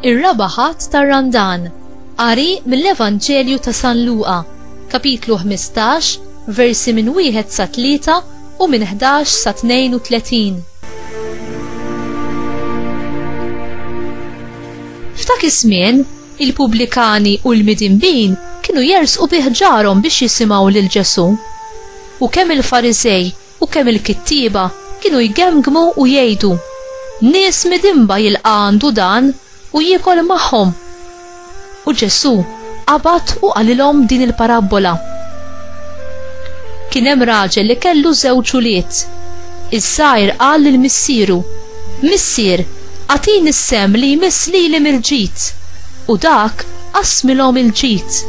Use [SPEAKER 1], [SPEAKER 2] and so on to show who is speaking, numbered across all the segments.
[SPEAKER 1] ir-raba' ħadd tar-Randan. Qari mill-Evanġelju ta' San Luqa, kapitlu 15, versi minn wieħed sa tlieta u minn 11 sa 32. F'dak iż-żmien, il-pubblikani u l-midinbin kienu jersqu bi ħġarhom biex jisimgħu lil Ġesù. U kemm il-Fariżej u kemm il-kittieba kienu jgemmgmu u jgħidu, Nies midinba jilqa' għandu dan u jiekol magħhom! U Ġesù Qabad u qalilhom din il-parabbola, Kien hemm raġel li kellu żewġ ulied. Iż-żgħir qal lil missieru, Missier, agħtini s-sehem li jmiss lili mill-ġid. U dak qasmilhom il-ġid.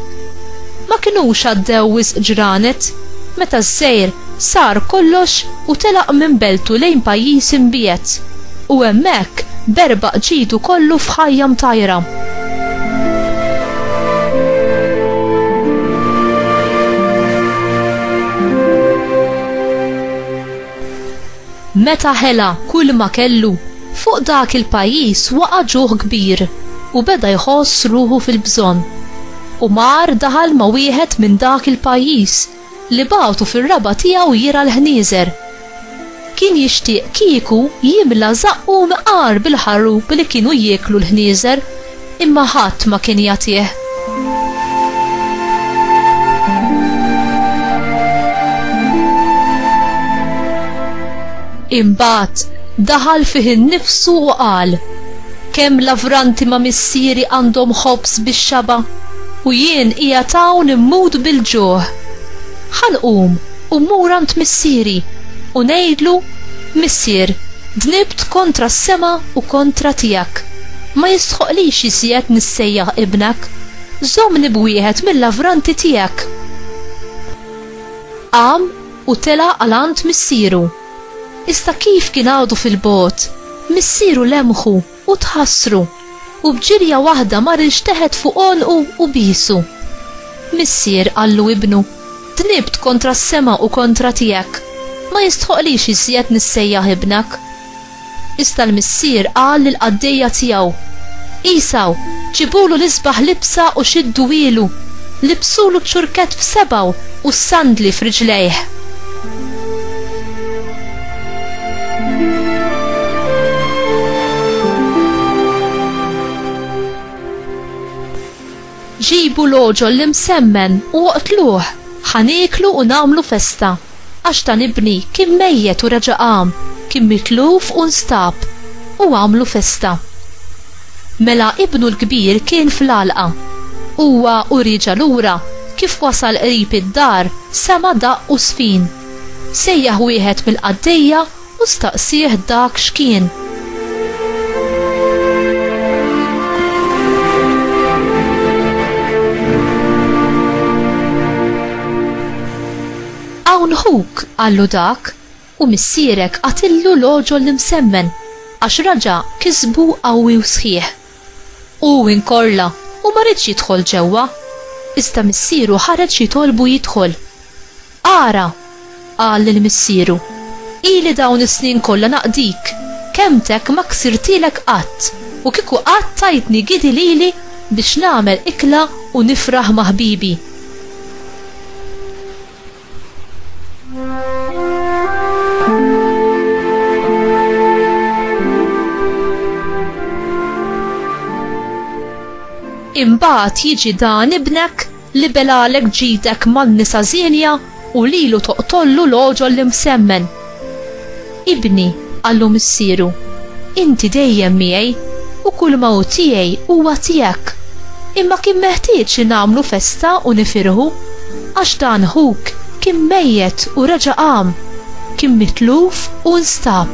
[SPEAKER 1] Ma kinux għaddew wisq ġranet, meta ż-żgħir sar kollox u telaq minn beltu lejn pajjiż imbiegħed. U hemmhekk berbaq ġidu kollu f'ħajja mtajra. Meta ħela kulma kellu, fuq dak il-pajjiż waqa' ġuħ kbir u beda jħoss ruħu fil-bżonn. U mar daħal ma' wieħed minn dak il-pajjiż li bagħtu fir-raba' tiegħu jirgħa l-ħnieżer. Kien jixtieq kieku jimla żaqqu mqar bil-ħarrup li kienu jieklu l-ħnieżer, imma ħadd ma kien jagħtih. Imbagħad daħal fih innifsu u qal, Kemm lavranti ma' missieri għandhom ħobż bix-xaba', u jien qiegħed hawn immut bil-ġuħ! Ħa nqum u mmur għand missieri, u ngħidlu, Missier, dnibt kontra s-sema u kontra tiegħek. Ma jistħoqqlix jiżjed nissejjaħ ibnek. Żommni b'wieħed mil-lavranti tiegħek! Qam u tela' għal għand missieru. Iżda kif kien għadu fil-bogħod, missieru lemħu u tħassru, u b'ġirja waħda mar ilxteħet fuq għonqu u biesu. Missier qallu ibnu, Dnibt kontra s-sema u kontra tiegħek. Ma jistħoqqlix iżjed nissejjaħ ibnek. Iżda l-missier qal lill-qaddejja tiegħu, Għisaw, ġibulu l-isbaħ libsa u xidduhielu, libsulu ċ-ċurkett f'sebgħu u s-sandli f'riġlejh. Ġibu l-għoġol l-imsemmen u oqtluh! Ħa nieklu u nagħmlu festa. Għax dan ibni kien mejjet u reġa' qam, kien mitluf u nstab. U għamlu festa. Mela ibnu l-kbir kien fl-għalqa. Huwa u rieġa' lura, kif wasal qrib id-dar, sema' daqq u żfin. Sejjaħ wieħed mill-qaddejja u staqsieh dak x'kien. Hawn ħuk, qallu dak, u missierek qatillu l-għoġol l-imsemmen, għax raġa' kisbu qawwi u sħiħ. Hu inkorla u ma riedx jidħol ġewwa, iżda missieru ħareġ jitolbu jidħol. Ara! qal lil missieru, ili dawn is-snin kollha naqdik, kelmtek ma ksirtilek qatt, u kieku qatt tajtni gidi lili biex nagħmel ikla u nifraħ ma' ħbibi. Imbagħad jiġi dan ibnek Libel għalhekk ġidek man-nisa żienja u lilu toqtollu l-għoġol l-imsemmen. Ibni, qallu missieru, inti dejjem miegħi u kulma hu tiegħi huwa tiegħek. Imma kien meħtieġ li nagħmlu festa u nifirħu, għax dan ħuk kien mejjet u reġa' qam, kien mitluf u nstab.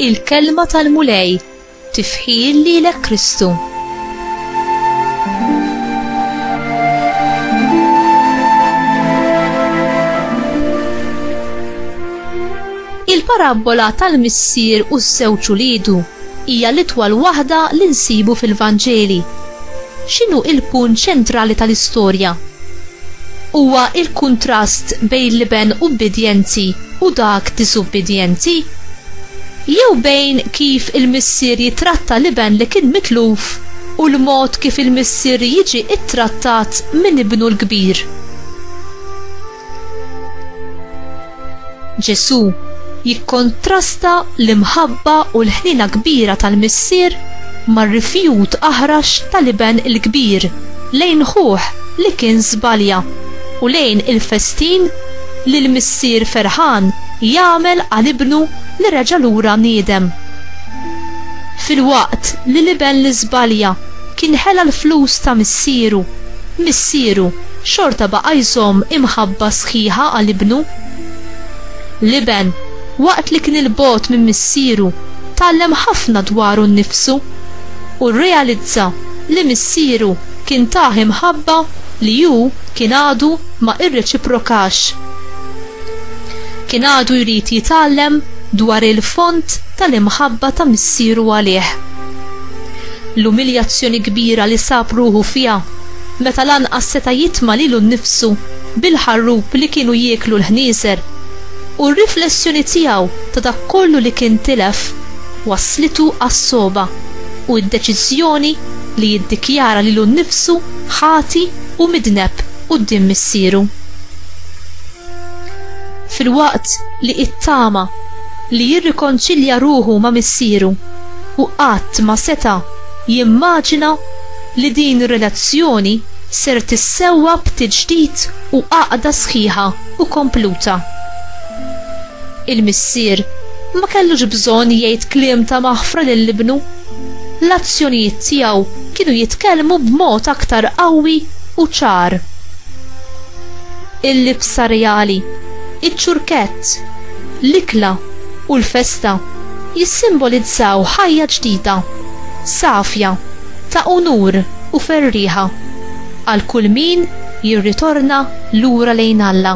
[SPEAKER 1] il-kelma tal-Mulej, tifħir lilek Kristu. Il-parabbola tal-missier u s-sewċu lidu Hija l-itwal waħda li nsibu fil-Vanġeli. X'inhu il-punt ċentrali tal-istorja? Huwa il-kuntrast bejn l-iben ubbidjenti u dak diżubbidjenti? Jew bejn kif il-missier jittratta l-iben li kien mitluf u l-mod kif il-missier jiġi ttrattat minn ibnu l-kbir? Ġesù jikkontrasta l-imħabba u l-ħniena kbira tal-Missier mar-rifjut aħrax tal-iben il-kbir lejn ħuh li kien żbalja u lejn il-festin li l-Missier ferħan jagħmel għal ibnu li reġa' lura niedem. Filwaqt li l-iben li żbalja kien ħela l-flus ta' missieru, missieru, xorta baqa' jżomm imħabba sħiħa għal Ibnu. L-Iben, waqt li kien 'il bogħod minn Missieru, tgħallem ħafna dwaru nnifsu, u rrealizza li Missieru kien tah imħabba li hu kien għadu ma irreċiprokax. Kien għadu jrid jitgħallem dwar il-fond tal-imħabba ta' Missieru għalih. L-umiljazzjoni kbira li sab ruħu fiha meta lanqas seta' jitma' lilu nnifsu bil-ħarrub li kienu jieklu l-ħnieżer, u r-riflessjoni tiegħu ta' dak kollu li kien tilef wasslitu għas-sogħba u d-deċiżjoni li jiddikjara lilu nnifsu ħati u midneb quddiem missieru. Filwaqt li ittama li jirrikonċilja ruħu ma' missieru, hu qatt ma seta' jimmaġina li din ir-relazzjoni ser tissewwa b'tiġdid u għaqda sħiħa u kompluta. Il-missier ma kellux bżonn jgħid kliem ta' maħfra lil ibnu. L-azzjonijiet tiegħu kienu jitkellmu b'mod aktar qawwi u ċar. Il-libsa reali, iċ-ċurkett, l-ikla, u l-festa jissimbolizzaw ħajja ġdida. Safja, ta' unur u ferrieħa għal kull min jirritorna lura lejn Alla.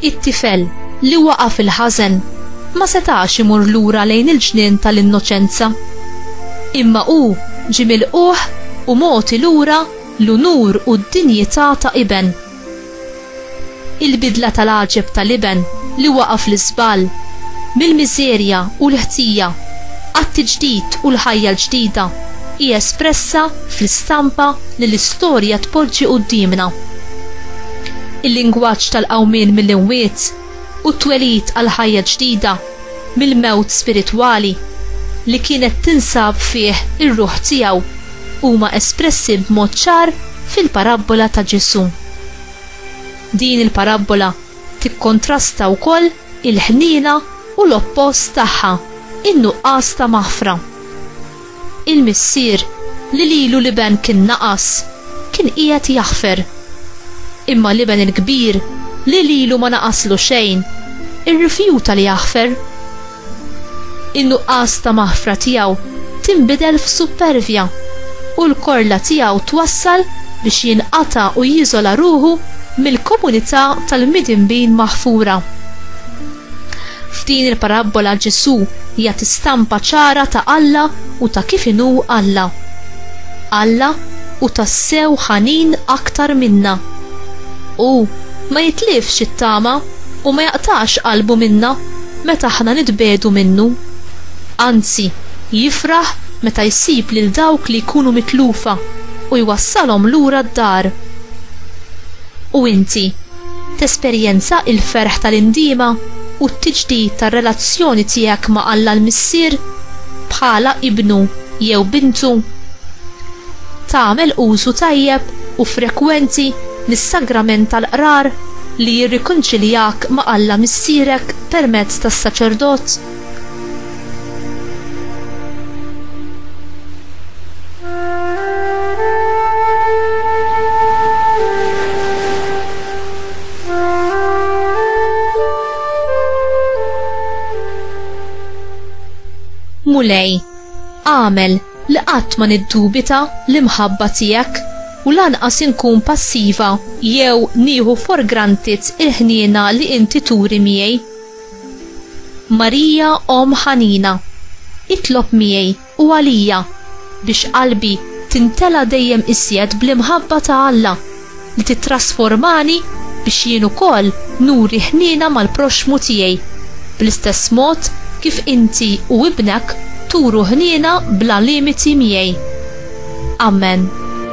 [SPEAKER 1] It-tifel, li waqa' fil-ħażen, ma setax imur lura lejn il-ġnien tal-innoċenza. Imma hu ġie milqugħ u mogħti lura l-unur u d-dinjità ta' iben. Il-bidla tal-għaġeb tal-iben li waqa' fl-iżball, mill-miżerja u l-ħtija għat-tiġdid u l-ħajja l-ġdida, hi espressa fl-istampa li l-istorja tpoġġi quddiemna. il-lingwaġġ tal-qawmien mill-imwiet u t-twelid għal ħajja ġdida mill-mewt spiritwali li kienet tinsab fih ir-ruħ tiegħu huma espressi b'mod ċar fil-parabbola ta' Ġesù. Din il-parabbola tikkontrasta wkoll il-ħniena u l-oppost tagħha, in-nuqqas ta' maħfra. Il-missier, li lilu l-iben kien naqas, kien qiegħed jaħfer. Imma l-iben il-kbir, li lilu ma naqaslu xejn, irrifjuta li jaħfer. In-nuqqas ta' maħfra tiegħu tinbidel f'suppervja, u l-korla tiegħu twassal biex jinqata' u jiżola ruħu mill-komunità tal-midinbin maħfura. F'din il-parabbola Ġesù jagħti stampa ċara ta' Alla u ta' kif inhu Alla. Alla hu tassew ħanin aktar minna. Hu ma jitlifx it-tama u ma jaqtax qalbu minna meta aħna nitbiegħdu minnu. Anzi, jifraħ meta jsib lil dawk li jkunu mitlufa u jwassalhom lura d-dar. U inti? Tesperjenza l-ferħ tal-indiema u t-tiġdid tar-relazzjoni tiegħek ma' Alla l-Missier bħala ibnu jew bintu? Tagħmel użu tajjeb u frekwenti mis-sagrament tal-qrar li jirrikonċiljak ma' Alla Missierek permezz tas-saċerdot? Mulej, għamel li qatt ma niddubita l-imħabba tiegħek u lanqas inkun passiva jew nieħu for granted il-ħniena li inti turi miegħi. Marija omm ħanina, itlob miegħi u għalija biex qalbi timtela dejjem iżjed bl-imħabba ta' Alla li tittrasformani biex jien ukoll nuri ħniena mal-proxxmu tiegħi bl-istess mod kif inti u ibnek turu ħniena bla limiti miegħi. Amen.